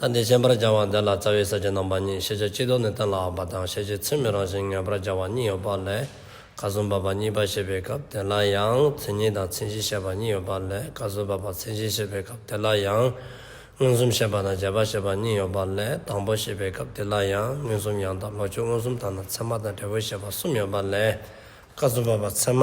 ལྟ་འདི་ཤེས་པར་བྱ་བ་འདི་ལ་རྩ་བའི་ས་བཅད་རྣམ་པ་གཉིས་ཤེས་བྱ་སྤྱི་ལྡོག་ནས་གཏན་ལ་འགས་པ་དང་ཤེས་བྱའི་ཚུལ་མི་རང་བཞིན་ངེས་པར་བྱ་བ་གཉིས་ཡོད་པ་ལས་ཁ་གསུམ་བབས་པ་གཉིས་པ་བཤད་པའི་སྐབས་དེ་ལ་ཡང་མཚན་ཉིད་དང་མཚན་གཞི་བཤད་པ་གཉིས་ཡོད་པ་ལས་ཁ་གསུམ་བབས་པ་མཚན་གཞི་བཤད་པའི་སྐབས་དེ་ལ་ཡང་མངོན་སུམ་བཤད་པ་དང་བྱེད་པ་བཤད་པ་གཉིས་ཡོད་པ་ལས་དང་པོ་བཤད་པའི་སྐབས་དེ་ལ་ཡང་མངོན་སུམ་ཡང་དག་ལོག་ཆོས་མངོན་སུམ་དང་ནི་ཚད་མ་དང་འབྲས་བུ་བཤད་པ་གསུམ་ཡོད་པ་ལས་ཁ་གསུམ་བབས་པ་ཚད་མ།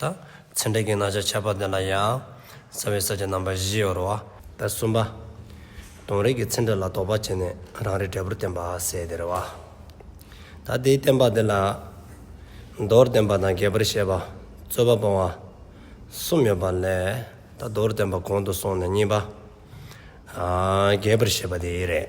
དང། ཚེ་འབྲས་ཀྱི་རྣམ་གཞག་ཁྱད་པར་ལྡན་ལ་ཡང། རྩ་བའི་ས་བཅད་རྣམ་པ་བཞི་ཡོད་རོ། དང་གསུམ་པ། དོན་རིག་གི་ཚེ་འབྲས་ལ་དོགས་པ་བྱས་ནས་རང་རིག་འབྲས་བུར་བསྟན་པ་ཟད་དེ་རེ་བ། ད་དེའི་བསྟན་པ་འདི་ལ། མདོར་བསྟན་པ་དང་རྒྱས་པར་བཤད་པ། རྩོད་པ་སྤོང་བ། གསུམ་ཡོད་པ་ལས། ད་མདོར་བསྟན་པ་གོང་དུ་སོང་ནས་གཉིས་པ། རྒྱས་པར་བཤད་པ་དེ་རེད།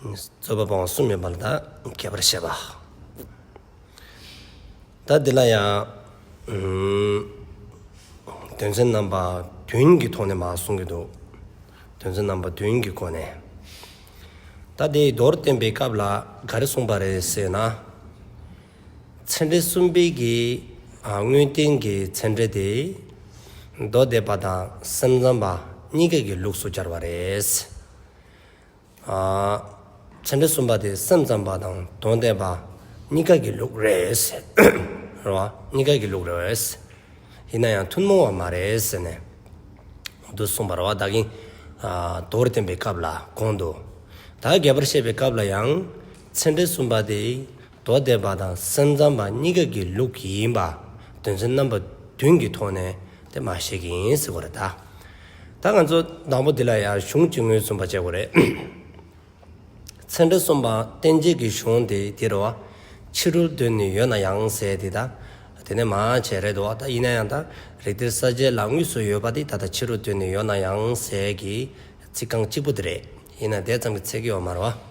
རྩོད་པ་སྤང་བ་གསུམ་མེད་པར་འདའ་གལ་བར་བཤད་པ། ད་འདི་ལ་ཡང། དོན་ཚན་རྣམ་པ་བདུན་གྱི་ཐོག་ནས་མ་གསུང་གི་འདུག་དོན་ཚན་རྣམ་པ་བདུན་གྱི་སྒོ་ནས། ད་དེ་མདོར་བསྟན་པའི་སྐབས་ལ་ག་རེ་གསུངས་པ་རེད་ཟེར་ན། ཚན་གྲལ་གསུམ་དཔེ་གྱི་དངོས་བསྟན་གྱི་ཚན་གྲལ་དེ། མདོ་སྡེ་པ་དང་སེམས་ཙམ་པ་གཉིས་ཀ་གི་ལུགས་སུ་སྦྱར་བ་རེད། བྱ་འདྲེ་གསུམ་པ་དེ་སེམས་ཙམ་པ་དང་དོན་བསྟན་པ་གཉིས་ཀ་གི་ལུགས་རེད། རེད་བ། གཉིས་ཀ་གི་ལུགས་རེད། ཡིན་ན་ཡང་ཐུན་མོང་བ་མ་རེད་ཟེར་ནས། དུ་གསུངས་པར་བ་བདག་གིས་དོར་བསྟན་པའི་སྐབས་ལ་དགོངས་འདུག་ད་རྒྱས་པར་བཤད་པའི་སྐབས་ལ་ཡང། ཚེ་འདྲེ་གསུམ་པ་དེ་མདོ་སྡེ་པ་དང་སེམས་ཙམ་པ་གཉིས་ཀ་གི་ལུགས་ཡིན་པ་དོན་ཚན་རྣམ་པ་བདུན་གྱི་ཐོག་ནས་དེ་མ་བཤད་ཀྱི་ཡིན་ཟེར་བ་རེད་ད། ད་ང་ཚོ་དང་པོ་འདི་ལ་ཡང་གཞུང་གཅིག་ངོས་བཟུང་པ་བྱེད་དགོས་རེད། ཚན་ཁྲི་གསུམ་པ་བསྟན་བྱེད་ཀྱི་གཞུང་དེ་དེ་རུ་ཕྱི་རུ་འདོན་ནི་ཡོད་ན་ཡང་ཟེར་དེ་ད་དེ་ནས་མ་བྱས་རེད་འདུག་ད་ཡིན་ན་ཡང་ད་རིགས་དེར་ས་བཅད་ལ་དངོས་སུ་ཡོད་པ་དེ་ད་ལྟ་ཕྱི་རུ་འདོན་ནི་ཡོད་ན་ཡང་ཟེར་གྱི་ཚིག་རྐང་གཅིག་པོ་དེ་རེད་ཡིན་ན་དེ་ཙམ་གྱི་ཚེགས་ཡོད་མ་རེད་བ།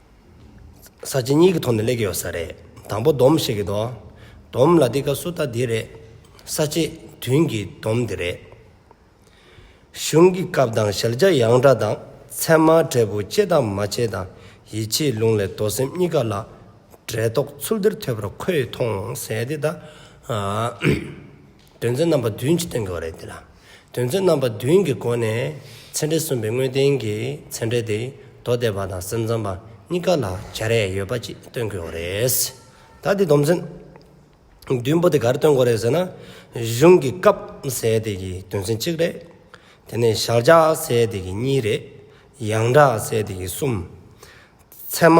ས་བཅད་གཉིས་ཀྱི་ཐོག་ནས་གླེགས་ཡོད་ས་རེད། དང་པོ་སྡོམ་ཞིག་གི་དོ། སྡོམ་ལ་འདི་ཀ་སུ་ལྟ་འདི་རེད། ས་བཅད་བདུན་གྱི་སྡོམ་འདི་རེད། གཞུང་གི་སྐབས་དང་ཞལ་བྱ་ཡང་འདྲ་དང་ཚད་མ་འབྲས་བུ་བཅད་དང་མ་བཅད་དང་ཡིད་ཆེས་ལུང་ལས་མདོ་སེམས་གཉིས་ཀ་ལ་འབྲེལ་དོགས་ཚུལ་འདིར་ཐོས་པར་ཁོས་མཐོང་ཟད་དེ་ད། དོན་ཚན་རྣམ་པ་བདུན་གྱིས་སྟོན་དགོས་པ་རེད། དེ་ལ་དོན་ཚན་རྣམ་པ་བདུན་གྱི་སྒོ་ནས་ཚན་འབྲེལ་གསུམ་པའི་དངོས་བསྟན་གྱི་ཚན་འབྲེལ་དེ་མདོ་སྡེ་པ་དང་སེམས་ཙམ་པ་གཉིས་ཀ་ལ་བྱ་རས་ཡོད་པ་གཅིག་སྟོན་དགོས་པ་རེད། ད་དེ་སྡོམ་ཚན་བདུན་པོ་དེ་ག་རེ་སྟོན་དགོས་རེད་ཟེར་ན། གཞུང་གི་སྐབས་ཟེར་དེ་གྱི་དོན་ཚན་གཅིག་རེད། དེ་ནས་བཞག་བྱ་ཟེར་དེ་གྱི་གཉིས་རེད། ཡང་གྲགས་ཟེར་དེ་གྱི་གསུམ། ཚད་མ།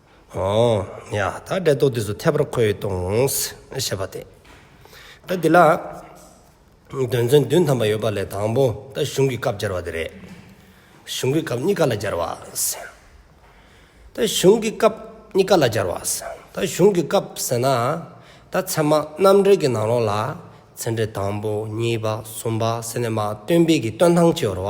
ཡ། ད་འབྲེལ་ཐོག་དུས་སུ་ཐད་པར་འཁོད་ཡོད་དོངས། ཞེས་པ་སྟེ། ད་འདི་ལ། དོན་ཚན་བདུན་ཐམ་པ་ཡོད་པ་ལས་དང་པོ་ད་གཞུང་གི་སྐབས་སྦྱར་བ་དེ་རེད། གཞུང་གི་སྐབས་གཉིས་ཀ་ལ་སྦྱར་བ། ད་གཞུང་གི་སྐབས་གཉིས་ཀ་ལ་སྦྱར་བ། ད་གཞུང་གི་སྐབས་ཟེར་ན། ད་ཚད་མ་རྣམ་འགྲེལ་གྱི་ནང་ལོགས་ལ། ཚད་འབྲེལ་དང་པོ་གཉིས་པ་གསུམ་པ་ཟེར་ནས་མ་བཏོན་དཔེ་གྱི་བཏོན་ཐང་ཆེ་བར་བ།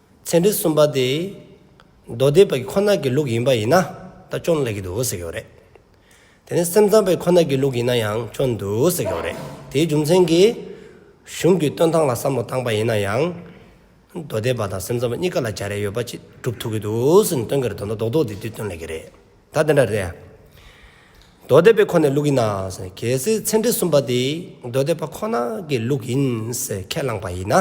ཚན་རིག་གསུམ་པ་དེ་མདོ་སྡེ་པའི་ཁོ་ན་གི་ལུགས་ཡིན་པ་ཡིན་ན་ད་ཅུང་ལེགས་ཀྱི་འདུག་ཟེར་གྱི་ཡོད་རེད། དེ་ནས་སེམས་ཙམ་པའི་ཁོ་ན་གི་ལུགས་ཡིན་ན་ཡང་ཅུང་འདུག་ཟེར་གྱི་ཡོད་རེད། དེའི་རྒྱུ་མཚན་གྱིས། གཞུང་གི་སྟོན་སྟངས་ལ་བསམ་བློ་བཏང་པ་ཡིན་ན་ཡང། མདོ་སྡེ་པ་དང་སེམས་ཙམ་པ་གཉིས་ཀ་ལ་བྱ་རེ་ཡོད་པ་ཅིག་སྒྲུབ་ཐུབ་ཀྱི་འདུག་ཟེར་ནས་སྟོན་གྱི་རེད་དོ་ཟླ་རྡོག་རྡོག་དེ་དུས་སྟོན་ལེགས་ཀྱི་རེད། ད་དེ་འདྲ་རེད། མདོ་སྡེ་པའི་ཁོ་ནའི་ལུགས་ཡིན་ན་ཟེར། གལ་སྲིད་ཚན་རིག་གསུམ་པ་དེ་མདོ་སྡེ་པ་ཁོ་ན་གི་ལུགས་ཡིན་ཟེར་ཁས་བླངས་པ་ཡིན་ན།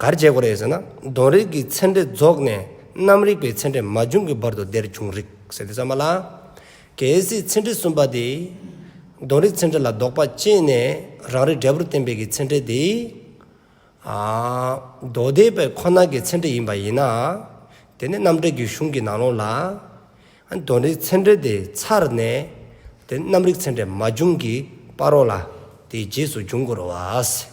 གར་བྱེད་དགོས་རེད་ཟེར་ན་གདོན་རིགས་ཀྱི་ཚེ་འདྲེ་རྫོགས་ནས་གནམ་རིག་པའི་ཚེ་འདྲེ་མ་བྱུང་གི་བར་དུ་དེར་བྱུང་རིགས་ཟེར་ཏེ་བསམ་པ་ལ། གལ་སྲིད་ཚེ་འདྲེ་གསུམ་པ་དེས་གདོན་རིགས་ཚེ་འདྲེ་ལ་རྡོག་པ་བཅད་ནས་རང་རིགས་འབྲས་བུར་བསྟན་པའི་གི་ཚེ་འདྲེ་དེ། མདོ་སྡེ་པའི་ཁོ་ན་གི་ཚེ་འདྲེ་ཡིན་པ་ཡིན་ན། དེ་ནི་གནམ་འདྲེ་གྱི་གཞུང་གི་ནང་ལོགས་ལ། གདོན་རིགས་ཚེ་འདྲེ་དེ་ཚར་ནས་དེ་གནམ་རིག་ཚེ་འདྲེ་མ་བྱུང་གི་བར་རོ་ལ་དེའི་རྗེས་སུ་འབྱུང་དགོས་རོ་བ།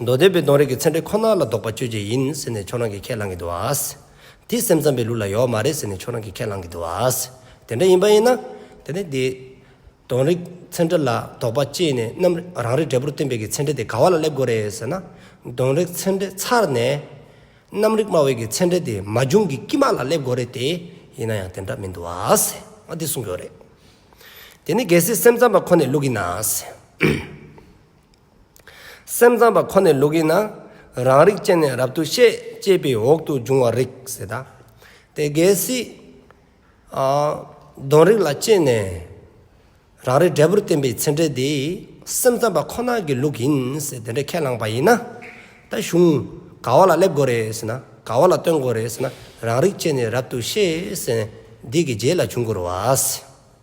མདོ་སྡེ་པའི་གདོང་རིས་ཀྱི་ཚན་ཁྲི་ཁོ་ན་ལ་བདོག་པ་གཅོད་བྱེད་ཡིན་ཟེར་ནས་ཁྱོད་རང་གིས་ཁས་བླངས་གི་འདུག་ཨ། དེ་སེམས་ཙམ་པའི་ལུགས་ལ་ཡོག་མ་རེད་ཟེར་ནས་ཁྱོད་རང་གིས་ཁས་བླངས་གི་འདུག་ཨ། དེ་འདྲ་ཡིན་པ་ཡིན་ན། དེ་ནི་དེ། གདོང་རིས་ཚན་ཁྲི་ལ་བདོག་པ་གཅེས་ནས་རྣམ་རང་རིག་འབྲས་བུར་སྟོན་པའི་གི་ཚན་ཁྲི་དེ་ག་བ་ལ་སླེབས་དགོས་རེད་ཟེར་ན། གདོང་རིས་ཚན་ཁྲི་ཚར་ནས། རྣམ་རིག་སྨྲ་བའི་གི་ཚན་ཁྲི་དེ་མ་བྱུང་གི་དཀྱིལ་མ་ལ་སླེབས་དགོས་རེད་དེ། ཡིན་ན་ཡང་དེ་འདྲ་མི་འདུག་ཨ། ང་དེ་གསུང་གི་ཡོད་རེད། དེ་ནི་གལ་སྲིད་སེམས་ཙམ་པ་ཁོ་ནའི་ལུགས་ཡིན་ན། སེམས་ཙམ་པ་ཁོ་ནས་ལུགས་ཡིན་ན། རང་རིག་ཅན་ནས་རབ་ཏུ་ཤེས་ཅེས་པའི་འོག་ཏུ་འབྱུང་བར་རིག་ཟེར་ད། དེ་གལ་སྲིད། གདོན་རིགས་ལ་སྐྱེས་ནས། རང་རིག་འབྲས་བུར་བསྟན་པའི་ཚེ་འབྲས་དེ་སེམས་ཙམ་པ་ཁོ་ན་གི་ལུགས་ཡིན་ཟེར་དེ་འདྲའི་ཁས་བླངས་པ་ཡིན་ན། ད་གཞུང་ག་བ་ལ་སླེབས་དགོས་རེད་ཟེར་ན་ག་བ་ལ་བརྟོན་དགོས་རེད་ཟེར་ན་རང་རིག་ཅན་ནས་རབ་ཏུ་ཤེས་ཟེར་ནས་འདི་གི་རྗེས་ལ་འབྱུང་དགོས་རུ་བ།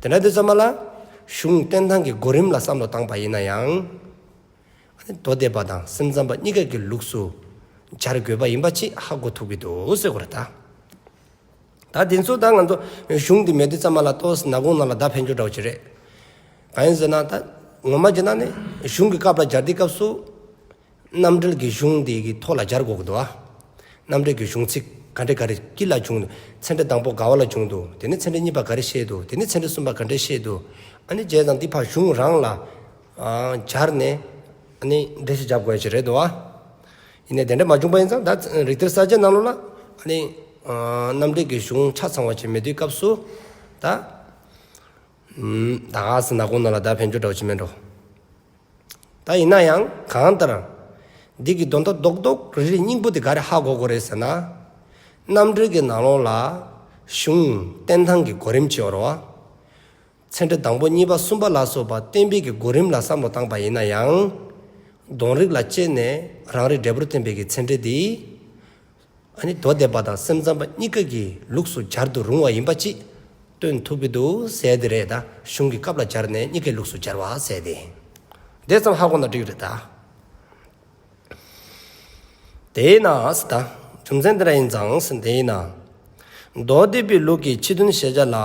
དེ་ནས་དེ་ཙམ་མ་ལ། གཞུང་བསྟན་སྟངས་ཀྱི་གོ་རིམ་ལ་བསམ་བློ་བཏང་བ་ཡིན་ན་ཡང། མདོ་སྡེ་པ་དང་སེམས་ཙམ་པ་གཉིས་ཀ་གི་ལུགས་སུ་སྦྱར་དགོས་པ་ཡིན་པ་ཅིག་ཧ་གོ་ཐུབ་ཀྱི་འདུག་གསོལ་གོ་རེ་ད། ད་དེ་ཚོ་ད་ང་ཚོ་གཞུང་འདི་མེད་དུས་ཙམ་མ་ལ་ལྟོས་ན་གོང་ནང་ལ་བརྡ་འཕེན་རྒྱུ་འདྲ་བོ་ཅིག་རེད། གང་ཡིན་ཟེར་ན་ད། ངོ་མ་བྱས་ན་ནི་གཞུང་གི་སྐབས་ལ་སྦྱར་དུས་སྐབས་སུ། རྣམ་འགྲེལ་གྱི་གཞུང་འདི་ཡི་ཐོག་ལ་སྦྱར་དགོས་དགོས་འདུག། རྣམ་འགྲེལ་གྱི་གཞུང་ཚིག་ག་འདྲས་ག་རེ་ཀི་ལ་བྱུང་འདུག་ཚན་འགྲེལ་དང་པོ་དགའ་བ་ལ་བྱུང་འདུག་དེ་ནས་ཚན་འགྲེལ་གཉིས་པ་ག་རེ་བཤད་འདུག་དེ་ནས་ཚན་འགྲེལ་གསུམ་པ་ག་འདྲས་བཤད་འདུག་ཨ་ནི་བྱས་ཙང་འདི་ཕར་གཞུང་རང་ལ་སྦྱར་ནས་ཨ་ནི་འགྲེལ་བཤད་བྱ་དགོས་ཀྱི་རེད་འདུག། ཡིན་ནས་དེ་འདྲ་མ་བྱུང་པ་ཡིན་ཙང་ད་རིག་གཏེར་གསར་བརྗེ་གནང་ལུགས་ལ་ཨ་ནི་རྣམ་འགྲེལ་གྱི་གཞུང་ཆ་ཚང་བ་བྱེད་མི་དུས་སྐབས་སུ་ད། ད་ག་ཟེ་ན་གོང་ནང་ལ་ད་ཕན་ཆོད་འདྲ་བོ་བྱེད་མི་འགྲོ། ད་ཡིན་ན་ཡང་གང་ལྟར། འདི་གི་དོན་ཐ་དོག་དོག་རེ་རེའི་སྙིང་པོ་དེ་ག་རེ་ཧ་གོ་གོ་རེད་ཟེར་ན། རྣམ་གྲོལ་གྱི་ནང་ལོགས་ལ། གཞུང། བསྟན་ཐང་གི་གོ་རིམ་སྤྱི་བོར་བ། ཚན་ཁྲི་དང་པོ་གཉིས་པ་གསུམ་པ་ལ་སོགས་པ་གཏན་འབེབས་ཀྱི་གོ་རིམ་ལ་བསམ་བློ་བཏང་པ་ཡིན་ན་ཡང། གདོང་རིགས་ལ་དཔྱད་ནས་རང་རེས་འབྲས་བུར་ཐོན་པའི་གི་ཚན་ཁྲི་འདི། ཨ་ནི་མདོ་སྡེ་པ་དང་སེམས་ཙམ་པ་གཉིས་ཀ་གི་ལུགས་སུ་སྦྱར་དུ་རུང་བ་ཡིན་པ་ཅིས་སྟོན་ཐུབ་ཀྱི་འདུག་ཟེར་དེ་རེད་ད་གཞུང་གི་སྐབས་ལ་སྦྱར་ནས་གཉིས་ཀའི་ལུགས་སུ་སྦྱར་བ་ཟེར་ཏེ། འདས་ཙམ་ཧ་གོ་ན་འགྲིག་རེད་ད། དེས་ན་ཟེར་ད། རྒྱུ་མཚན་འདི་འདྲ་ཡིན་ཙང་ཟེར་དེ་ཡིན་ན། མདོ་སྡེ་པའི་ལུགས་ཀྱི་ཕྱི་དོན་ཤེས་བྱ་ལ་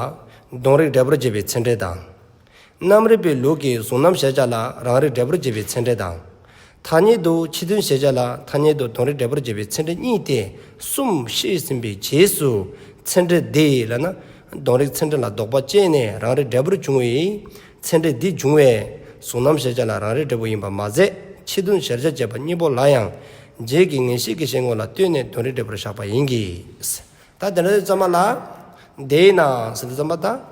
གདོང་རིགས་འབྲས་བུར་འབྱེད་པའི་ཚིག་འགྲེལ་དང། གནམ་རིག་པའི་ལུགས་ཀྱིས་གཟུང་རྣམ་ཤེས་བྱ་ལ་རང་རིག་འབྲས་བུར་འབྱེད་པའི་ཚེ་འབྲས་དང། ཐ་སྙད་དུ་ཕྱི་དོན་ཤེས་བྱ་ལ་ཐ་སྙད་དུ་དོན་རིག་འབྲས་བུར་འབྱེད་པའི་ཚེ་འབྲས་གཉིས་ཏེ་གསུམ་བཤད་ཟིན་པའི་རྗེས་སུ་ཚེ་འབྲས་འདི་ལ་ན། དོན་རིག་ཚེ་འབྲས་ལ་ལྡོག་པ་བཅད་ནས་རང་རིག་འབྲས་བུར་འབྱུང་བས། ཚེ་འབྲས་འདི་འབྱུང་བས་གཟུང་རྣམ་ཤེས་བྱ་ལ་རང་རིག་འབྲས་བུ་ཡིན་པར་མ་ཟད་ཕྱི་དོན་གཞལ་བྱ་བཅས་པ་གཉིས་པོ་ལ་ཡང། རྗེས་ཀྱི་ངེས་ཤེས་ཀྱི་ཤེས་ངོ་ལ་ལྟོས་ནས་དོན་རིག་འབྲས་བུར་བཞག་པ་ཡིན་གྱི། ད་དེ་འདྲ་དེ་ཙམ་མ་ལགས། དེས་ན་ཟིན་ཐོ་ཙམ་པ་དང།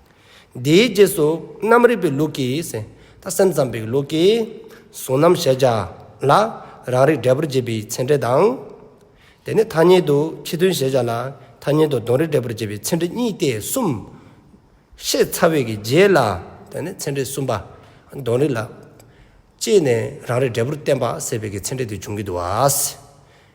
དེའི་རྗེས་སུ་རྣམ་རིག་པའི་ལུགས་ཀྱིས། ད་སེམས་ཙམ་པའི་ལུགས་ཀྱིས་གཟུང་རྣམ་གཞལ་བྱ་ལ། རང་རིག་འབྲས་བུར་འབྱེད་པའི་ཚེ་འབྲས་དང། དེ་ནས་ཐ་སྙད་དུ་ཕྱི་དོན་གཞལ་བྱ་ལ། ཐ་སྙད་དུ་གདོན་རིག་འབྲས་བུར་འབྱེད་པའི་ཚེ་འབྲས་གཉིས་ཏེ་གསུམ། ཤེས་ཚ་བས་ཀྱི་རྗེས་ལ། ཚེ་འབྲས་གསུམ་པ། གདོན་རིག་ལ། ཅེས་ནས་རང་རིག་འབྲས་བུར་བསྟན་པ་སེལ་བས་ཀྱི་ཚེ་འབྲས་དེ་འབྱུང་གི་འདུག་བ།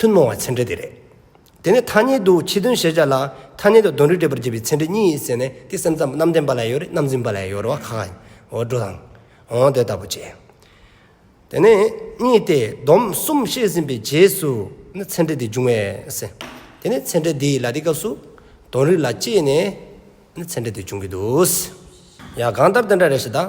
མཐུན་མོང་བ་ཚན་འབྲེལ་དེ་རེད། དེ་ནི་ཐ་སྙད་དུ་ཁྱི་དོན་ཞེས་བྱ་ལ། ཐ་སྙད་དུ་གདོན་རིགས་སྤྲས་པར་བྱེད་པའི་ཚན་འབྲེལ་གཉིས་ཟེར་ནས་དེ་སེམས་ཙམ་གནམ་བསྟན་པ་ལ་ཡོད་རེད་གནམ་འཛིན་པ་ལ་ཡོད་རེད་བ་ཁ་ཁ་འོ་སྒྲོ་དང། འོང་དེ་ལྟ་བུ་བྱས། དེ་ནི་གཉིས་ཏེ་སྡོམ་གསུམ་བཤད་ཟིན་པའི་རྗེས་སུ་ནི་ཚན་འབྲེལ་དེ་འབྱུང་བས། དེ་ནི་ཚན་འབྲེལ་འདིའི་ལ་དེ་སྐབས་སུ་གདོན་རིགས་ལ་དཔྱད་ནས་ནི་ཚན་འབྲེལ་དེ་འབྱུང་གི་འདུག། ཡང་གང་ལྟར་དེ་འདྲ་རེད་ཞེས་དང།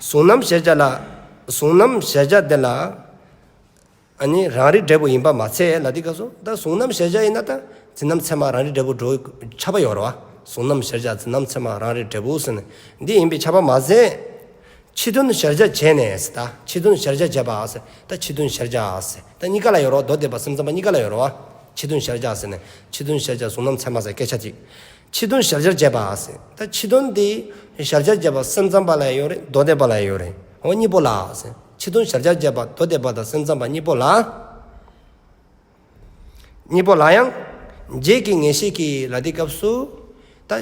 གཟུང་རྣམ་གཞལ་བྱ་ལ། གཟུང་རྣམ་གཞལ་བྱ་དེ་ལ། ནི་རང་རིག་འབྲས་བུ་ཡིན་པར་མ་ཚད་ལ་དེ་སྐབས་སུ་ད་གཟུང་རྣམ་གཞལ་བྱ་ཡིན་ན་ད་འཛིན་རྣམ་ཚད་མ་རང་རིག་འབྲས་བུ་འགྲོ་ཁྱབ་པ་ཡོད་རེད་བ། གཟུང་རྣམ་གཞལ་བྱ་འཛིན་རྣམ་ཚད་མ་རང་རིག་འབྲས་བུ་ཟེར་ནས་འདི་ཡིན་པའི་ཁྱབ་པ་མ་ཟད། ཕྱི་དོན་གཞལ་བྱ་བྱས་ནས་ད་ཕྱི་དོན་གཞལ་བྱ་བྱས་པ་ད་ཕྱི་དོན་གཞལ་བྱ་ད་གཉིས་ཀ་ལ་ཡོད་རེད་བ་མདོ་སྡེ་པ་སེམས་ཙམ་པ་གཉིས་ཀ་ལ་ཡོད་རེད་བ། ཕྱི་དོན་གཞལ་བྱ་ཟེར་ནས་ཕྱི་དོན་གཞལ་བྱ་གཟུང་རྣམ་ཚད་མ་ཟེར་སྐད་ཆ་གཅིག། ཕྱི་དོན་ཞབས་སྦྱར་བྱས་པ་ཨ་སེ་ད་ཕྱི་དོན་དེ་ཞབས་སྦྱར་བྱས་པ་སེམས་ཙམ་པ་ལ་ཡང་ཡོད་རེད་མདོ་སྡེ་པ་ལ་ཡང་ཡོད་རེད་འོ་གཉིས་པོ་ལ་ཨ་སེ་ཕྱི་དོན་ཞབས་སྦྱར་བྱས་པ་མདོ་སྡེ་པ་དང་སེམས་ཙམ་པ་གཉིས་པོ་ལ། གཉིས་པོ་ལ་ཡང། རྗེས་ཀྱི་ངེས་ཤེས་ཀྱི་ལ་དེའི་སྐབས་སུ། ད་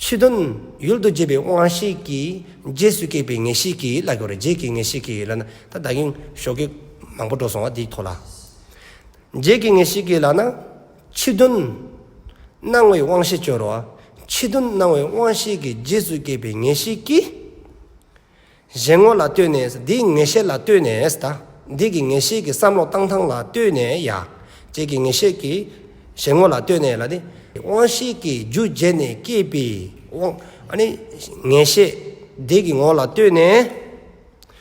ཕྱི་དོན་ཡུལ་དུ་བྱས་པའི་དབང་ཤེས་ཀྱི་རྗེས་སུ་སྐྱེས་པའི་ངེས་ཤེས་ཀྱི་ལ་གྱོ་རེད་རྗེས་ཀྱི་ངེས་ཤེས་ཀྱི་ལ་ན་ད་བདག་གིས་ཞོགས་ཀྱི་མང་པོ་འགྲོ་སོང་བ་དེའི་ཐོག་ལ། རྗེས་ཀྱི་ངེས་ཤེས་ཀྱི་ལ་ན། ཕྱི་དོན། སྣང་བའི་དབང་ཤེས་སྤྱོར་བ། ཕྱི་དོན་སྣང་བའི་དབང་ཤེས་ཀྱི་རྗེས་སུ་སྐྱེས་པའི་ངེས་ཤེས་ཀྱིས། གཞན་ངོ་ལ་ལྟོས་ནས་འདིའི་ངེས་ཤེས་ལ་ལྟོས་ནས་ད་འདི་གི་ངེས་ཤེས་ཀྱི་བསམ་བློ་བཏང་ཐང་ལ་ལྟོས་ནས་ཡ། ཅེས་ཀྱི་ངེས་ཤེས་ཀྱིས་གཞན་ངོ་ལ་ལྟོས་ནས་ལ་ནི། དབང་ཤེས་ཀྱི་རྒྱུ་རྗེས་ནས་སྐྱེས་པའི་དབང། ངེས་ཤེས། འདི་གི་ངོ་ལ་ལྟོས་ནས།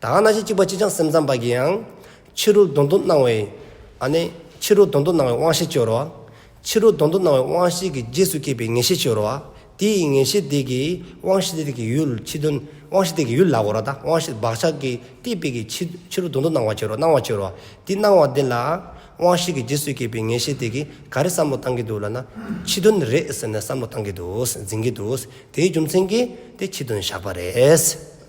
ད་ག་ན་ཞིག་གཅིག་པ་གཅིག་བྱང་སེམས་ཙམ་པ་གྱིས་ཡང། ཕྱི་རོལ་དོན་དུ་སྣང་བའི། ཨ་ནི། ཕྱི་རོལ་དོན་དུ་སྣང་བའི་དབང་ཤེས་སྤྱོར་བ། ཕྱི་རོལ་དོན་དུ་སྣང་བའི་དབང་ཤེས་ཀྱི་རྗེས་སུ་སྐྱེས་པའི་ངེས་ཤེས་སྤྱོར་བ། དེ་ཡི་ངེས་ཤེས་དེ་གིས་དབང་ཤེས་དེ་གི་ཡུལ་ཕྱི་དོན། དབང་ཤེས་དེ་གི་ཡུལ་ལ་གོ་ར་དང་དབང་ཤེས་བག་ཆགས་ཀྱི་སྟེ་དཔེ་གྱི་ཕྱི། ཕྱི་རོལ་དོན་དུ་སྣང་བ་སྤྱོར་བ་སྣང་བ་སྤྱོར་བ། དེ་སྣང་བ་དེ་ལ། དབང་ཤེས་ཀྱི་རྗེས་སུ་སྐྱེས་པའི་ངེས་ཤེས་དེ་གིས་ག་རེ་བསམ་བློ་བཏང་གི་འདུག་ལ་ན། ཕྱི་དོན་རེད་ཟེར་ནས་བསམ་བློ་བཏང་གི་འདུག་འཛིན་གྱི་འདུག་དེའི་རྒྱུ་མཚན་གྱིས་དེ་ཕྱི་དོན་བཞག་པ་རེད།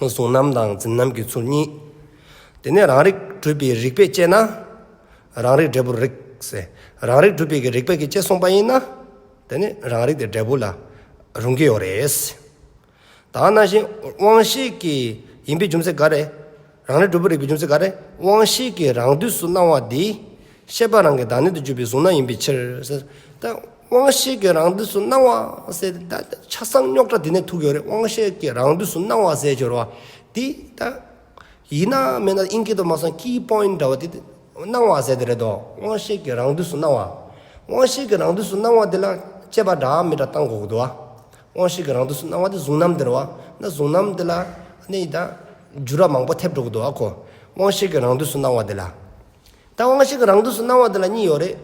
བཟུང་རྣམ་དང་འཛིན་རྣམ་གྱི་ཚུལ་གཉིས། དེ་ནས་རང་རིག་གྲུབ་པའི་རིགས་པས་དཔྱད་ན། རང་རིག་འབྲས་བུར་རིག། རང་རིག་གྲུབ་པའི་གྱི་རིགས་པས་ཀྱི་ཅེས་གསུངས་པ་ཡིན་ན། དེ་ནི་རང་རིག་དེ་འབྲས་བུ་ལ་རུང་གི་ཡོད་རེད། དང་ན་བཞིན་དབང་ཤེས་ཀྱི་ཡིན་པའི་རྒྱུ་མཚན་ག་རེ། རང་རེ་གྲུབ་པོ་རིག་པའི་ཅུང་ཟད་འགའ་རེ་དབང་བཞི་ཀྱི་རང་དུས་སུ་སྣང་བ་འདི། ཤེས་པ་རང་གི་བདག་ཉིད་དུ་གྱུར་པའི་གཟུགས་སྣང་ཡིན་པའི་ཕྱིར། ད་དབང་བཞི་ཀྱི་རང་དུས་སུ་སྣང་བ་ཟད་དེ། ད་ཆ་གསང་རྙོག་དྲ་དེ་ནས་ཐུག་ཡོད་རེད་དབང་བཞི་ཀྱི་རང་དུས་སུ་སྣང་བ་ཟད་གྱུར་བ་འདི། ད་ཡིན་ན་མིན་ན་དབྱིན་སྐད་དུ་སྨྲ་སོང key point འདྲ་བ་དེ། སྣང་བ་ཟད་དེ་རེད་དོ་དབང་བཞི་ཀྱི་རང་དུས་སུ་སྣང་བ། དབང་བཞི་ཀྱི་རང་དུས་སུ་སྣང་བ་འདི་ལ་དཔྱད་པ་འདྲ་མི་འདྲ་བཏང་དགོས་ཀྱི་འདུག་ཨ། དབང་ཤེས་ཀྱི་རང་དུ་སུ་སྣང་བ་དེ་གཟུང་རྣམ་འདིར་བ་ན་གཟུང་རྣམ་འདི་ལ་གནས་ཡིན་དང། འགྱུར་བ་མང་པོ་ཐེབས་འགྲོ་གི་འདུག་ཨ་ཁོ། དབང་ཤེས་ཀྱི་རང་དུ་སུ་སྣང་བ་འདི་ལ། ད་དབང་ཤེས་ཀྱི་རང་དུ་སུ་སྣང་བ་འདི་ལ་གཉིས་ཡོད་རེད།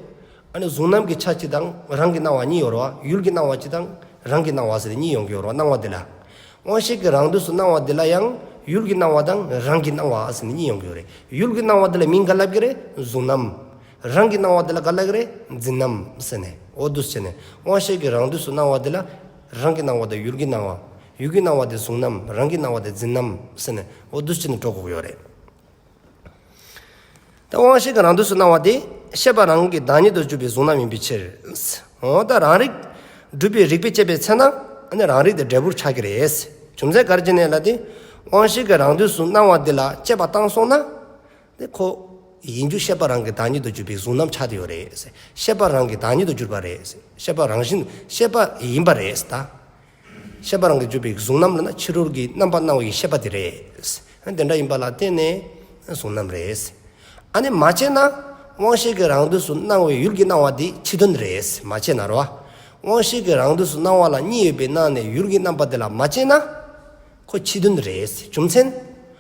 ཨ་ནི་གཟུང་རྣམ་གྱི་ཆ་གཅིག་དང་རང་གི་སྣང་བ་གཉིས་ཡོད་རེད་བ། ཡུལ་གྱི་སྣང་བ་གཅིག་དང་རང་གི་སྣང་བ་ཟེར་གཉིས་ཡོང་གི་ཡོད་རེད་བ་སྣང་བ་འདི་ལ། དབང་ཤེས་ཀྱི་རང་དུ་སུ་སྣང་བ་འདི་ལ་ཡང་ཡུལ་གྱི་སྣང་བ་དང་རང་གི་སྣང་བ་ཟེར་ནས་གཉིས་ཡོང་གི་ཡོད་རེད། ཡུལ་གྱི་སྣང་བ་འདི་ལ་མིང་འགའ་བསླབ་ཀྱི་རེད་གཟུང་རྣམ། རང་གིས་སྣང་བ་དེ་ལ་ག་ལ་ཡོད་རེ་འཛིན་ནམ་ཟེར་ནས་འོ་དུས་བྱས་ནས་དབང་ཤེས་ཀྱིས་རང་དུས་སུ་སྣང་བ་དེ་ལ་རང་གིས་སྣང་བ་དང་ཡུལ་གྱིས་སྣང་བ། ཡུལ་གྱིས་སྣང་བ་དེ་བཟུང་ནམ་རང་གིས་སྣང་བ་དེ་འཛིན་ནམ་ཟེར་ནས་འོ་དུས་བྱས་ནས་གྲོགས་གོག་ཡོད་རེད། ད་དབང་ཤེས་ཀྱི་རང་དུས་སུ་སྣང་བ་དེ་ཤེས་པ་རང་གི་བདག་ཉིད་དུ་གྱུར་པའི་བཟུང་ན་མིན་པའི་ཕྱིར། འོ་ད་རང་རིག་སྒྲུབ་པའི་རིགས་པས་དཔྱད་པའི་ཚེ་ན་ནི་རང་རིག་དེ་འབྲས་བུར་ཆགས་ཀྱི་རེད། རྒྱུ་མཚན་ག་རེ་བྱས་ནས་ལ་དེ་དབང་ཤེས་ཀྱི་རང་དུས་སུ་སྣང་བ་དེ་ལ་དཔྱད་པ་བཏང་སོང་ན། དེ་ཁོ། ཡིན་རྒྱུ་ཤེས་པ་རང་གིས་བདག་ཉིད་དུ་གྱུར་པའི་གཟུང་རྣམ་ཆགས་ཏེ་ཡོད་རེད། ཤེས་པ་རང་གིས་བདག་ཉིད་དུ་གྱུར་པ་རེད། ཤེས་པ་རང་བཞིན་ཤེས་པ་ཡིན་པ་རེད་ད། ཤེས་པ་རང་གིས་གྱུར་པའི་གཟུང་རྣམ་ལ་ན་ཕྱི་རོལ་གྱི་རྣམ་པ་སྣང་བའི་ཤེས་པ་དེ་རེད། དེ་འདྲ་ཡིན་པ་ལ་བརྟེན་ནས་གཟུང་རྣམ་རེད། ཨ་ནི་མ་བྱས་ན། དབང་ཤེས་ཀྱི་རང་དུས་སུ་སྣང་བའི་ཡུལ་གྱི་སྣང་བ་དེ་ཕྱི་དོན་རེད་མ་བྱས་ན་རོ། དབང་ཤེས་ཀྱི་རང་དུས་སུ་སྣང་བ་ལ་གཉིས་ཡོད་པའི་སྣང་ནས་ཡུལ་གྱི་རྣམ་པ་དེ་ལ་མ་བྱས་ན། ཁོ་ཕྱི་དོན་རེད། རྒྱུ་མཚན།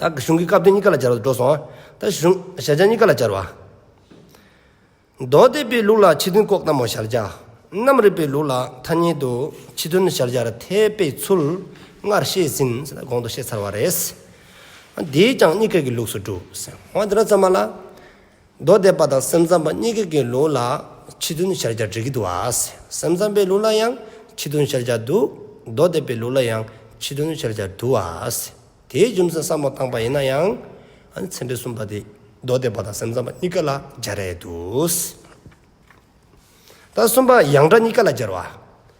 བདག་གི་གཞུང་གི་སྐབས་དོན་གཉིས་ཀ་ལ་སྦྱར་བ་དུ་འགྲོ་སོང་བ། བདག་གཞུང་གཞལ་བྱ་གཉིས་ཀ་ལ་སྦྱར་བ། མདོ་སྡེ་པའི་ལུགས་ལ་ཕྱི་དོན་ལྐོག་ལྟ་མོ་གཞལ་བྱ། རྣམ་རིག་པའི་ལུགས་ལ་ཐ་སྙད་དུ་ཕྱི་དོན་གཞལ་བྱར་ཐལ་པའི་ཚུལ་སྔར་བཤད་ཟིན་གོང་དུ་བཤད་ཚར་བ་རེད། འདིས་ཀྱང་གཉིས་ཀའི་ལུགས་སུ་གྲུབ། འོ་ན་འདི་ལ་ཙམ་མ་ལ། མདོ་སྡེ་པ་དང་སེམས་ཙམ་པ་གཉིས་ཀྱི་ཀྱི་ལུགས་ལ་ཕྱི་དོན་ཤར་སྦྱར་འབྲི་གི་འདུག་ཨ། སེམས་ཙམ་པའི་ལུགས་ལ་ཡང་ཕྱི་དོན་ཤར་སྦྱར་འདུག་མདོ་སྡེ་པའི་ལུགས་ལ་ཡང་ཕྱི་དོན་ཤར་སྦྱར་འདུག་ཨ། དེའི་རྒྱུ་མཚན་བསམ་བློ་བཏང་པ་ཡིན་ན་ཡང། ཚན་པའི་གསུམ་པ་དེ་མདོ་སྡེ་པ་དང་སེམས་ཙམ་པ་གཉིས་ཀ་ལ་སྦྱར་ཡས་འདུག། ད་གསུམ་པ་ཡང་སྒྲ་གཉིས་ཀ་ལ་སྦྱར་བ།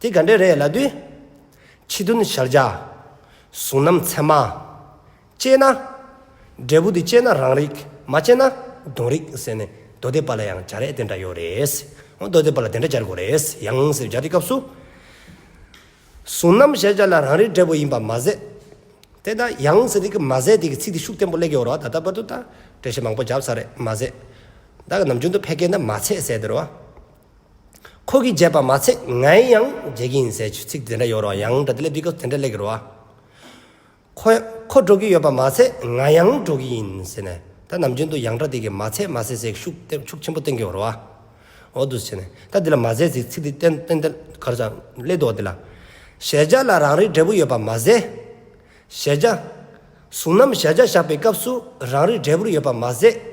དེ་ག་འདྲས་རེད་ལབ་དུས། ཕྱི་དོན་ཞར་བྱ། གཟུང་རྣམ་ཚད་མ། དཔྱད་ན། འབྲས་བུ་དེ་དཔྱད་ན་རང་རིག་མ་དཔྱད་ན་གདོན་རིག་ཟེར་ནས་མདོ་སྡེ་པ་ལ་ཡང་བྱ་རེད་དེ་འདྲ་ཡོད་རེད། མདོ་སྡེ་པ་ལ་དེ་འདྲ་སྦྱར་དགོས་རེད་ཡང་ཟེར་སྦྱར་དེ་སྐབས་སུ། གཟུང་རྣམ་ཞར་བྱ་ལ་རང་རིག་འབྲས་བུ་ཡིན་པ་མ་ཟད། དེ་ལྟ་ཡང་ཟེར་དེ་སྐབས་མ་ཟད་དེ་གི་ཚིག་དེ་ཤུགས་བརྟན་པོ་གླེགས་ཡོད་རོ་ད་ལྟ་བར་དུ་ད་འགྲེལ་བཤད་མང་པོ་བརྒྱབ་ས་རེད་མ་ཟད། བདག་གི་ནམ་རྒྱུན་དུ་ཕལ་སྐད་འདི་མ་ཚད་ཟེར་དེ་རོ། ཁོ་གིས་བརྗེད་པ་མ་ཚད་ངས་ཡང་བརྗེད་ཀྱི་ཡིན་ཟེར་གྱི་ཚིག་དེ་འདྲ་ཡོད་རུང་ཡང་འདྲ་དེ་ལས་སྤི་ཀོས་དེ་འདྲ་ལས་ཀྱི་རུང་ཨ། ཁོ། ཁོ་འགྲོ་གི་ཡོད་པ་མ་ཚད་ང་ཡང་འགྲོ་གི་ཡིན་ཟེར་ནས་ད་ནམ་རྒྱུན་དུ་ཡང་འདྲ་དེ་གིས་མ་ཚད་མ་ཟེར་ཟེར་ཤུགས་ཤུགས་ཆེན་པོ་བསྟན་གྱི་ཡོད་རུང་ཨ། འོ་དུས་ཟེར་ནས་ད་དེ་ལ་མ་ཟེར་ཟེར་ཚིག་དེ་བསྟན་བསྟན་གར་ཟ་སླད་དུ་འོ་དེ་ལ། གཞལ་བྱ་ལ་རང་རིག་འབྲས་བུ་ཡོད་པ་མ་ཟད། གཞལ་བྱ། གཟུང་རྣམ་གཞལ་བྱ་བཞག་པའི་སྐབས་སུ་རང་རིག་འབྲས་བུར་ཡོད་པ་མ་ཟད།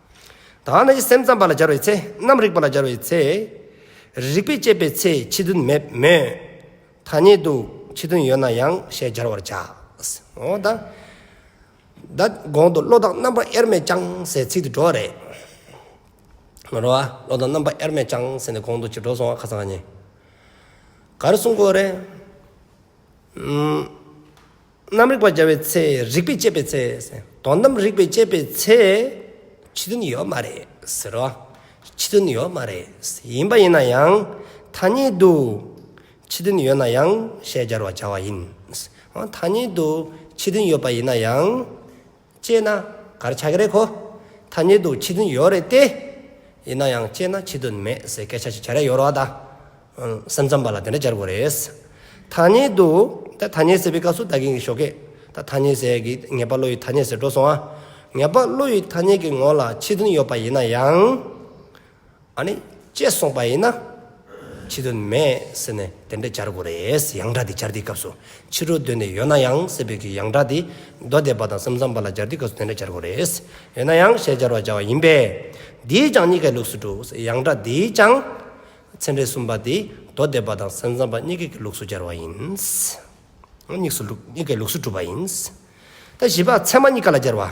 དག་ན་ཅི་སེམས་ཙམ་པ་ལ་སྦྱར་བའི་ཚེ་རྣམ་རིག་པ་ལ་སྦྱར་བའི་ཚེ། རིག་པས་དཔྱད་པའི་ཚེ་ཕྱི་དོན་མེད་མོད། ཐ་སྙད་དུ་ཕྱི་དོན་ཡོད་ན་ཡང་ཞེས་སྦྱར་བར་བྱ། འོ་ད་གོང་དུ་བློ་དང་རྣམ་པ་དབྱེར་མེད་ཀྱང་ཟེར་ཚིག་དེ་འགྲོ་བ་རེད། མི་འགྲོ་བ་བློ་དང་རྣམ་པ་དབྱེར་མེད་ཀྱང་ཟེར་ནས་གོང་དུ་ཅིག་འགྲོ་སོང་བ་ཁ་ཚང་ཉེ། ག་རེ་གསུང་དགོས་རེད། རྣམ་རིག་པ་བརྒྱ་པའི་ཚེ་རིག་པས་དཔྱད་པའི་ཚེ་དོ། རྣམ་རིག་པས་དཔྱད་པའི་ཚེ། ཕྱི་དོན་ཡོད་མ་རེད་ཟེར་རོ། ཕྱི་དོན་ཡོད་མ་རེད། ཡིན་པ་ཡིན་ན་ཡང་ཐ་སྙད་དུ། ཕྱི་དོན་ཡོད་ན་ཡང་ཞལ་སྦྱར་བར་བྱ་བ་ཡིན། ཐ་སྙད་དུ་ཕྱི་དོན་ཡོད་པ་ཡིན་ན་ཡང། སྤྱད་ན་གར་ཆག་གི་རེད་གོ། ཐ་སྙད་དུ་ཕྱི་དོན་ཡོད་རེད་དེ། ཡིན་ན་ཡང་སྤྱད་ན་ཕྱི་དོན་མེད་ཟེར་སྐད་ཆ་ཞིག་བྱ་རེ་ཡོད་རོགས་ད། སེམས་ཙམ་པ་ལ་དེ་འདྲ་བྱ་དགོས་རེད། ཐ་སྙད་དུ། ད་ཐ་སྙད་ཟེར་བའི་སྐབས་སུ་ད་གིན་གི་ཞོགས་གས། ད་ཐ་སྙད་ཟེར་གི་ངེས་པ་བློ་ཡི་ཐ་སྙད་ཟེར་འགྲོ་སོང་ཨ། ངེས་པ་བློ་ཡི་ཐ་སྙད་ཀྱི་ངོ་ལ་ཕྱི་དོན་ཡོད་པ་ཡིན་ན་ཡང། ཨ་ནི། ཅེས་གསུངས་པ་ཡིན་ན། ཕྱི་དོན་མེད་ཟེར་ནས་དེ་འདྲ་སྦྱར་དགོས་རེད། ཡང་སྒྲ་དེ་སྦྱར་དུས་སྐབས་སུ་ཕྱི་དྲོ་སྡོད་ནས་ཡོད་ན་ཡང་སྲིད་བོད་ཀྱི་ཡང་སྒྲ་དེ། མདོ་སྡེ་པ་དང་སེམས་ཙམ་པ་ལ་སྦྱར་དུས་སྐབས་སུ་དེ་འདྲ་སྦྱར་དགོས་རེད། ཡོད་ན་ཡང་ཞེས་སྦྱར་བར་བྱ་བ་ཡིན་པས། འདིའི་ཀྱང་གཉིས་ཀའི་ལུགས་སུ་འགྲོ། ཡང་སྒྲ་འདིའི་ཀྱང། ཚན་རེ་གསུམ་པ་དེ་མདོ་སྡེ་པ་དང་སེམས་ཙམ་པ་གཉིས་ཀའི་ལུགས་སུ་སྦྱར་བ་ཡིན། གཉིས་ཀའི་ལུགས་སུ་གྲུབ་པ་ཡིན། ད་བཞི་པ་ཚད་མ་གཉིས་ཀ་ལ་སྦྱར་བ།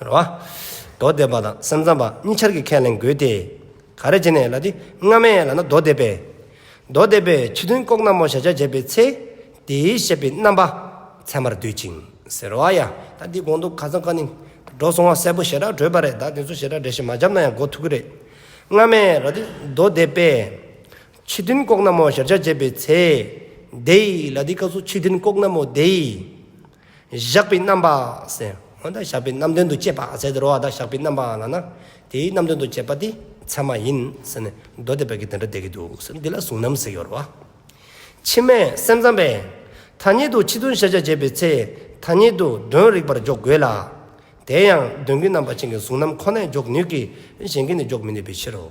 རེད་བ། མདོ་སྡེ་པ་དང་སེམས་ཙམ་པ་གཉིས་ཆར་གྱི་ཁས་ལེན་དགོས་ཏེ། ག་རེ་བྱས་ནས་ལ་དེ་སྔ་མའི་ལ་ན་མདོ་སྡེ་པས། མདོ་སྡེ་པས་ཕྱི་དོན་ལྐོག་ན་མོ་གཞལ་བྱ་བྱས་པའི་ཚེ། དེའི་བཤད་པའི་རྣམ་པ་ཚད་མར་འདོད་ཅིང། ཟེར་བ་ཡ། ད་འདི་གོང་དུ་ག་ཚང་ཀ་ནི། འགྲོ་སོང་བ་གསལ་པོ་ཞེ་དྲག་བགྲོས་པ་རེད་ད་དེ་ཚོ་ཞེ་དྲག་འགྲེལ་བཤད་མ་བརྒྱབ་ན་ཡང་གོ་ཐུབ་ཀི་རེད། སྔ་མའི་ལ་དེ་མདོ་སྡེ་པས། ཕྱི་དོན་ལྐོག་ན་མོ་གཞལ་བྱ་བྱས་པའི་ཚེ། དེའི་ལ་དེའི་སྐབས་སུ་ཕྱི་དོན་ལྐོག་ན་མོ་དེའི། བཞག་པའི་རྣམ་པ་སེ། འོན་ཏེ་བཞག་པའི་རྣམ་དོན་དུ་བཅས་པ་ཟད་དུ་རོ་བ་དག་བཞག་པའི་རྣམ་པ་ལགས་ན། དེའི་རྣམ་དོན་དུ་བཅས་པ་དེ་ཚད་མ་ཡིན་ཟེར་ནས་མདོ་སྡེ་པ་གིས་དེ་འདྲ་བསྡད་ཀྱི་འདུག་ཟེར་འདི་ལ་གཟུང་རྣམ་ཟེར་ཡོད་རེད། ཕྱི་མའི་སེམས་ཙམ་པས། ཐ་སྙད་དུ་ཕྱི་དོན་ཤེས་བྱ་བྱེད་པའི་ཚེ་ཐ་སྙད་དུ་དོན་རིག་པར་འཇོག་དགོས་ལ། དེ་ཡང་དོན་གྱི་རྣམ་པ་ཅན་གྱི་གཟུང་རྣམ་ཁོ་ནས་འཇོག་ནུས་ཀྱི་གཞན་གྱིས་ནི་འཇོག་མི་ནུས་པའི་ཕྱིར་རོ།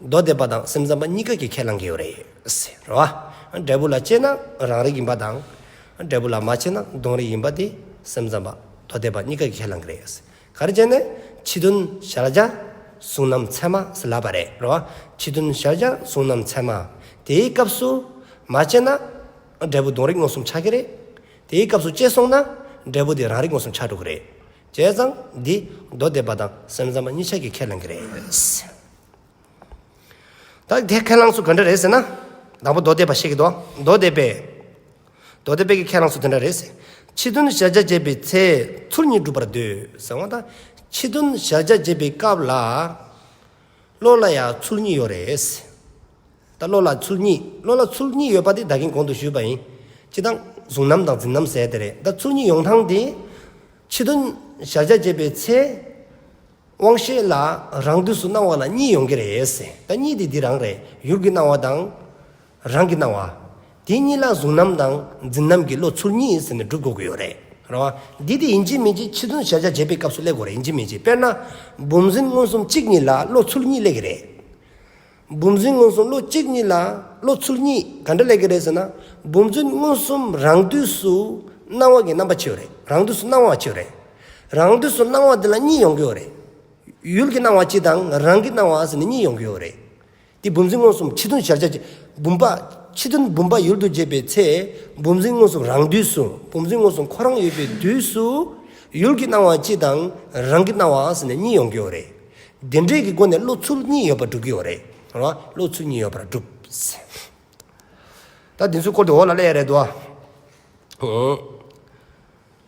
མདོ་སྡེ་པ་དང་སེམས་ཙམ་པ་གཉིས་ཀ་གིས་ཁས་བླང་གི་ཡོད་རེད། འབྲས་བུ་ལ་དཔྱད་ན་རང་རིག་ཡིན་པ་དང། འབྲས་བུ་ལ་མ་དཔྱད་ན་གདོན་རིག་ཡིན་པ་དེ་སེམས་ཙམ་པ། མདོ་སྡེ་པ་གཉིས་ཀ་གིས་ཁས་བླང་གི་རེད། ག་རེ་བྱས་ནས། ཕྱི་དོན་ཤར་བྱ། གཟུང་རྣམ་ཚད་མ་ཟེར་ལབ་པ་རེད། ཕྱི་དོན་ཤར་བྱ་གཟུང་རྣམ་ཚད་མ། དེའི་སྐབས་སུ། མ་དཔྱད་ན། འབྲས་བུ་གདོན་རིག་མངོན་སུམ་ཆགས་ཀྱི་རེད། དེའི་སྐབས་སུ་དཔྱད་སོང་ན། འབྲས་བུ་དེ་རང་རིག་མངོན་སུམ་ཆགས་འགྲོ་གི་རེད། བྱས་ཙང་འདི་མདོ་སྡེ་པ་དང་སེམས་ཙམ་པ་གཉིས་ཆ་གི་ཁས་ལེན་གྱི་རེད། ད་དེ་ཁས་ལངས་སུ་ག་འདྲ་རེད་ཟེར་ན། དང་པོ་མདོ་སྡེ་པ་ཤེས་ཀྱི་འདུག་མདོ་སྡེ་པས། མདོ་སྡེ་པས་ཀྱི་ཁས་ལངས་སུ་དེ་འདྲ་རེད་ཟེར། ཕྱི་དོན་བཞག་བྱ་བྱེད་པའི་ཚེ་ཚུར་གཉིས་སྒྲུབ་པར་འདོད་ཟེར་བ་དང། ཕྱི་དོན་བཞག་བྱ་བྱེད་པའི་སྐབས་ལ། བློ་ལ་ཡང་ཚུལ་གཉིས་ཡོད་རེད། ད་བློ་ལ་ཚུལ་གཉིས་བློ་ལ་ཚུལ་གཉིས་ཡོད་པ་དེ་ད་གིན་གོང་དུ་ཞུས་པ་ཡིན། སྤྱི་དང། གཟུང་རྣམ་དང་འཛིན་རྣམ་ཟེར་དེ་རེད་ད་ཚུལ་གཉིས་ཡོང་ཐང་དེ། ཕྱི་དོན། བཞག་བྱ་བྱེད་པའི་ཚེ། དབང་ཤེས་ལ་རང་དུས་སུ་སྣང་བ་ལ་གཉིས་ཡོང་གི་རེད། ད་གཉིས་དེ་འདི་རང་རེད་ཡུལ་གྱི་སྣང་བ་དང། རང་གིས་གནང་བ། དེ་གཉིས་ལ་གཟུང་རྣམ་དང་འཛིན་རྣམ་གྱི་བློ་ཚུར་གཉིས་ཟིན་ནས་སྒྲུབ་དགོས་ཀྱི་ཡོད་རེད། རེད་བ། འདི་དེ་ཡིན་གྱི་མིན་གྱི་ཕྱི་ཚུལ་གཞལ་བྱ་འབྱེད་པའི་སྐབས་སུ་གླེགས་དགོས་རེད་ཡིན་གྱི་མིན་གྱི་དཔེར་ན། བུམ་འཛིན་མངོན་སུམ་གཅིག་གཉིས་ལ་བློ་ཚུལ་གཉིས་གླེགས་ཀྱི་རེད། བུམ་འཛིན་མངོན་སུམ་བློ་གཅིག་གཉིས་ལ་བློ་ཚུལ་གཉིས་ག་འདྲ་གླེགས་ཀྱི་རེད་ཟེར་ན། བུམ་འཛིན་མངོན་སུམ་རང་དུས་སུ་སྣང་བ་གི་རྣམ་པ་ཆེའོ་རེད་རང་དུས་སུ་སྣང་བ་ཆེའོ་རེད། རང་དུས་སུ་སྣང་བ་དེ་ལ་གཉིས་ཡོང་གི་ཡོད་རེད། ཡུལ་གྱི་སྣང་བ་སྤྱི་དང་རང་གི་སྣང་བ་ཟེར་ནས་གཉིས་ཡོང་གི་ཡོད་རེད། དེ་བུམ་འཛིན་མངོན་སུམ་ཁྲི་སྟོང་ཞག་བརྒྱ་བརྒྱ། བུམ་པ། ཁྲི་སྟོང་བུམ་པ་ཡུལ་དུ་བརྗེས་པའི་ཚེ། བུམ་འཛིན་མངོན་སུམ་རང་དུས་སུ། བུམ་འཛིན་མངོན་སུམ་ཁོ་རང་ཡོད་པའི་དུས་སུ། ཡུལ་གྱི་སྣང་བ་སྤྱི་དང། རང་གི་སྣང་བ་ཨཱ་ས་ནས་གཉིས་ཡོང་གི་ཡོད་རེད། དེ་འདྲེས་ཀྱི་སྒོ་ནས་བློ་ཚུལ་གཉིས་ཡོད་པར་སྒྲུབ་ཀྱི་ཡོད་རེད། བློ་ཚུལ་གཉིས་ཡོད་པར་སྒྲུབས། ད་དེ་ཚོའི་སྐོར་དུ་འོག་ལ་གླེགས་རེ་བསྡུ།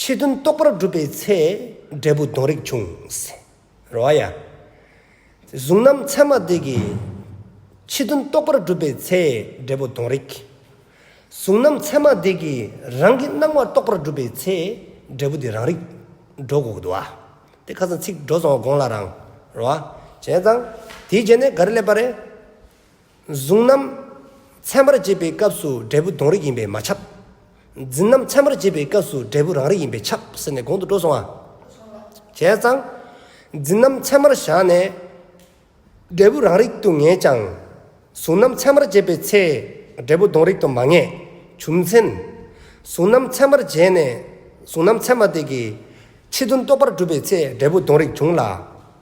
ཆོས་དོན་རྟོགས་པར་བསྒྲུབ་པའི་ཚེ། འབྲས་བུ་སྡོང་རིགས་འབྱུང། རོ་ཨ་ཡ། གཟུང་རྣམ་མཚན་མ་དེ་གའི། ཆོས་དོན་རྟོགས་པར་བསྒྲུབ་པའི་ཚེ། འབྲས་བུ་སྡོང་རིགས། གཟུང་རྣམ་མཚན་མ་དེ་གའི། རང་གི་སྣང་བ་རྟོགས་པར་བསྒྲུབ་པའི་ཚེ། འབྲས་བུ་དེ་རང་རིག། སྒྲོ་འགོག་དུ་བ། དེ་ཁ་སང་ཚིག་སྒྲོ་སོང་བ་དགོངས་ལ་རང། རོ་ཨ། བྱས་ཙང། དེའི་རྗེས་ནས་ག་རེ་སླེབས་པ་རེད། གཟུང་རྣམ། མཚན་པར་བྱེད་པའི་སྐབས་སུ་འབྲས་བུ་དོན་རིག་ཡིན་པས་མ་ཁྱབ། འཛིན་རྣམ་མཚན་པར་བྱེད་པའི་སྐབས་སུ་འབྲས་བུ་རང་རིག་ཡིན་པས་ཁྱབ་ཟེར་ནས་གོང་དུ་སྤྲོ་སོང་ང། བྱས་ཙང། འཛིན་རྣམ་མཚན་མར་བཞག་ནས། འབྲས་བུ་རང་རིག་ཏུ་ངེས་ཀྱང། གཟུང་རྣམ་མཚན་མར་བྱེད་པའི་ཚེ། འབྲས་བུ་དོན་རིག་ཏུ་མ་ངེས། བྱུང་མཚན། གཟུང་རྣམ་མཚན་པར་བྱས་ནས། གཟུང་རྣམ་མཚན་མ་དེ་གི། ཕྱི་དོན་རྟོགས་པར་གྲུབ་པའི་ཚེ་འབྲས་བུ་དོན་རིག་འབྱུང་ལ།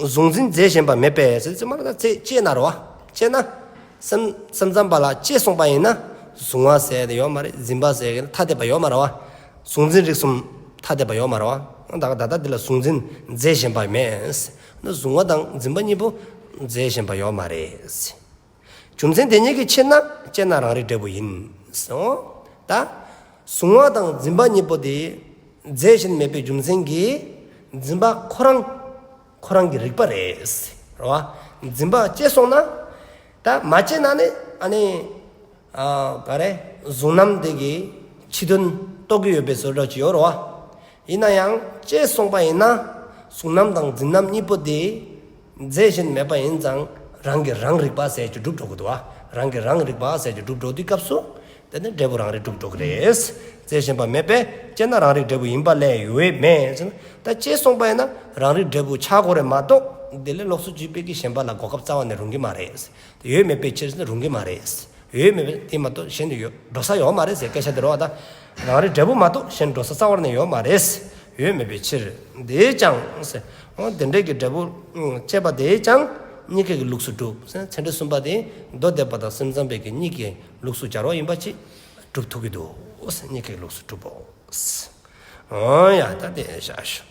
གཟུང་འཛིན་རྫས་གཞན་པ་མེད་པས་ཚེ་སྨྲ་ན་ཚེ་སྐྱེས་ན་རོ། སྐྱེས་ན། སེམས་སེམས་ཙམ་པ་ལ་སྐྱེས་གསུངས་པ་ཡིན་ན། གཟུང་བ་ཟད་དེ་ཡོད་མ་རེད་འཛིན་པ་ཟད་ཀྱི་ཐ་དད་པ་ཡོད་མ་རེད། གཟུང་འཛིན་རིགས་གསུམ་ཐ་དད་པ་ཡོད་མ་རེད། ད་ལྟ་འདི་ལ་གཟུང་འཛིན་རྫས་གཞན་པ་མེད། གཟུང་བ་དང་འཛིན་པ་གཉིས་པོ་རྫས་གཞན་པ་ཡོད་མ་རེད། རྒྱུ་མཚན་དེ་ཉིད་ཀྱི་ཕྱིར་ན་དཔྱད་ན་རང་རིག་འབྲས་བུ་ཡིན། ཟེར་འོ། ད། གཟུང་བ་དང་འཛིན་པ་གཉིས་པོ་དེ། རྫས་གཞན་མེད་པའི་རྒྱུ་མཚན་གྱིས། འཛིན་པ་ཁོ་རང། ཁོ་རང་གིས་རིག་པ་རེད། རེད་བ། འཛིན་པ་སྐྱེས་སོང་ན། ད་མ་སྐྱེས་ན་ནི། ཨ་ནི། ཨ། ག་རེ། གཟུང་རྣམ་དེ་གི། ཕྱི་དོན། རྟོགས་ཀྱི་ཡོད་པའི་ཟོལ་རྒྱག་གི་ཡོད། རེད་བ། ཡིན་ན་ཡང། སྐྱེས་སོང་པ་ཡིན་ན། གཟུང་རྣམ་དང་འཛིན་རྣམ་གཉིས་པོ་དེ། མཛད་བཞིན་མེད་པ་ཡིན་ཙང་རང་གིས་རང་རིག་པ་ཟས་ཀྱི་སྒྲུབ་གྲོགས་དུ་བ་རང་གིས་རང་རིག་པ་ཟས་ཀྱི་སྒྲུབ་གྲོགས་དུས་སྐབས་སུ། དེ་ནི་འབྲས་བུ་རང་རིག་སྒྲུབ་གྲོགས་རེད། མཛད་བཞིན་པ་མེད་པས་དཔྱད་ན་རང་རིག་འབྲས་བུ་ཡིན་པ་ལས་འོས་མེད། ད་དཔྱད་གསུངས་པ་ཡིན་ན་རང་རིག་འབྲས་བུ་ཆག་གོ་རེད་མ་གཏོགས། དེ་ལས་ལོགས་སུ་བརྒྱུད་སྤེལ་གྱི་ཞེན་པ་ལ་གོ་སྐབས་རྩ་བ་ནས་རུང་གི་མ་རེད། དེ་ཡོད་མེད་པའི་ཕྱིར་ནི་རུང་གི་མ་རེད། ཡོད་མེད་པའི་དེ་མ་གཏོགས་གཞན་དུ་ཡོད་འགྲོ་ས་ཡོད་མ་རེད་ཟེར་སྐད་ཆ་དེ་རོ་ད། རང་རེ་འབྲས་བུ་མ་གཏོགས་གཞན་འགྲོ་ས་རྩ་བར་ནས་ཡོད་མ་རེད། ཡོད་མེད་པའི་ཕྱིར། དེས་ཀྱང། འོ་དེ་འདྲས་ཀྱི་འབྲས་བུ། དཔྱད་པ་དེས་ཀྱང། གཉིས་སྐད་ཀྱི་ལུགས་སུ་གྲུབ། ཚན་རིག་གསུམ་པ་དེ། མདོ་སྡེ་པ་དང་སེམས་ཙམ་པའི་གཉིས་སྐད་ཀྱི་ལུགས་སུ་སྦྱར་བ་ཡིན་པ་གཅིག། གྲུབ་ཐུབ་ཀྱི་འདུག། གཉིས་སྐད་ཀྱི་ལུགས་སུ་གྲུབ་བོ། འོ་ཡ། ད་དེ་བཞག་ཞུ།